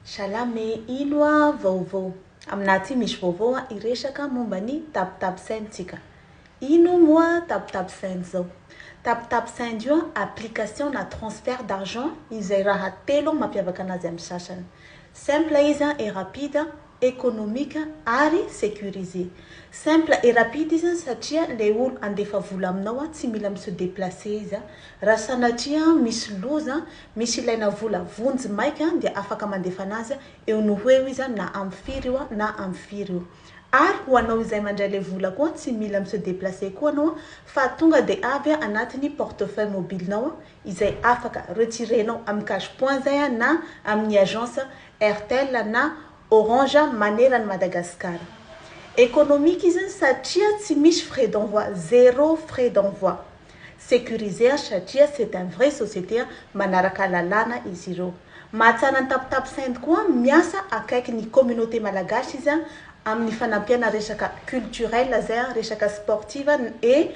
Salame ilo a vaovao. Aminah ty misy vaovao a hiresaka momba ny tap tap send tsika. Ino moa tap tap send zao? Tap tap send io a application na transfert d'argent izay raha telo mampiavaka anazy amin'ny sasany. Simple izy a et rapide. économique ary sécurisé. Simple et rapide izy satria ilay olo handefa vola aminao tsy mila mi se déplacer izy raha sanatria misy loza, misy ilaina vola vonjy maika dia afaka mandefa anazy eo no ho eo izy na amin'ny firy io na amin'ny firy io. Ary ho anao izay mandray ilay vola koa tsy mila mi se déplacer koa anao fa tonga dia avy anatin'ny portefeuille mobile-nao izay afaka retirenao amin'ny cash point zay na amin'ny agence Airtel na Orange maneran'i Madagasikara. Economique izy satria tsy misy frais d'envoi, zero frais d'envoi. Securisé satria c'est un vrai société manaraka lalàna izy ireo. Mahatsara ny Taptap Send koa, miasa akaiky ny communauté malagasy izy amin'ny fanampiana resaka culturel zay, resaka sportive et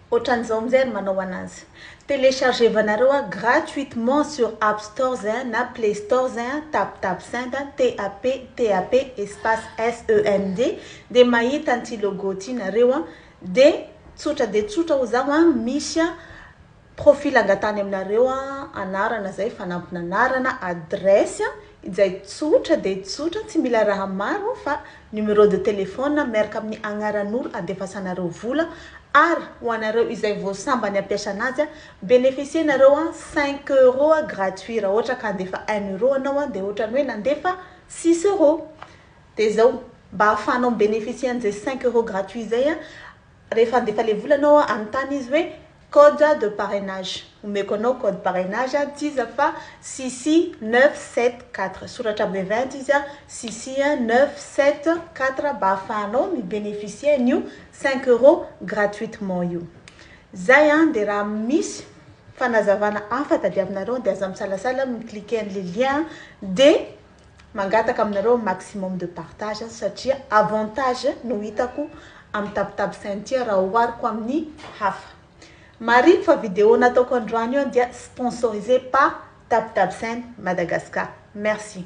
Otran'izao amin'izay ry manao anazy. Telechargevanareo a gratuitement sur app stores a na play stores a taptapsend a TAP TAP espace SEND dia mahita an'ity logo ity nareo a dia tsotra dia tsotra hozaho a misy a profil angatahany aminareo a anarana zay fanampin'anarana adresse a izay tsotra dia tsotra tsy mila raha maro fa Numéro de téléphone miaraka amin'ny agnaran'olo andefasanareo vola ary ho anareo izay vao sambany ampiasana azy beneficier nareo an cinq euros gratuit raha ohatra ka handefa un euro anao an dia ohatrany hoe nandefa six euros dia zao mba ahafahanao mi beneficier an'izay cinq euros gratuit izay an rehefa handefa le vola anao an anontany izy hoe Code de parrainage, omeko anao code parrainage an tsiza fa Sissi neuf sept quatre, soratra bevent izy an, Sissi an neuf sept quatre mba ahafahanao mi beneficier an'io cinq euros gratuitement io. Zay an, dia raha misy fanazavana hafa tadiavinareo dia aza misalasala mi cliquer an'le lien dia. Mangataka aminareo maximum de partage satria avantage no hitako amin'ny tapotapo saint ity raha ohariko amin'ny hafa. Marihiko fa video nataoko androany io dia sponsorisé par tapotapo saint Madagascar. Merci.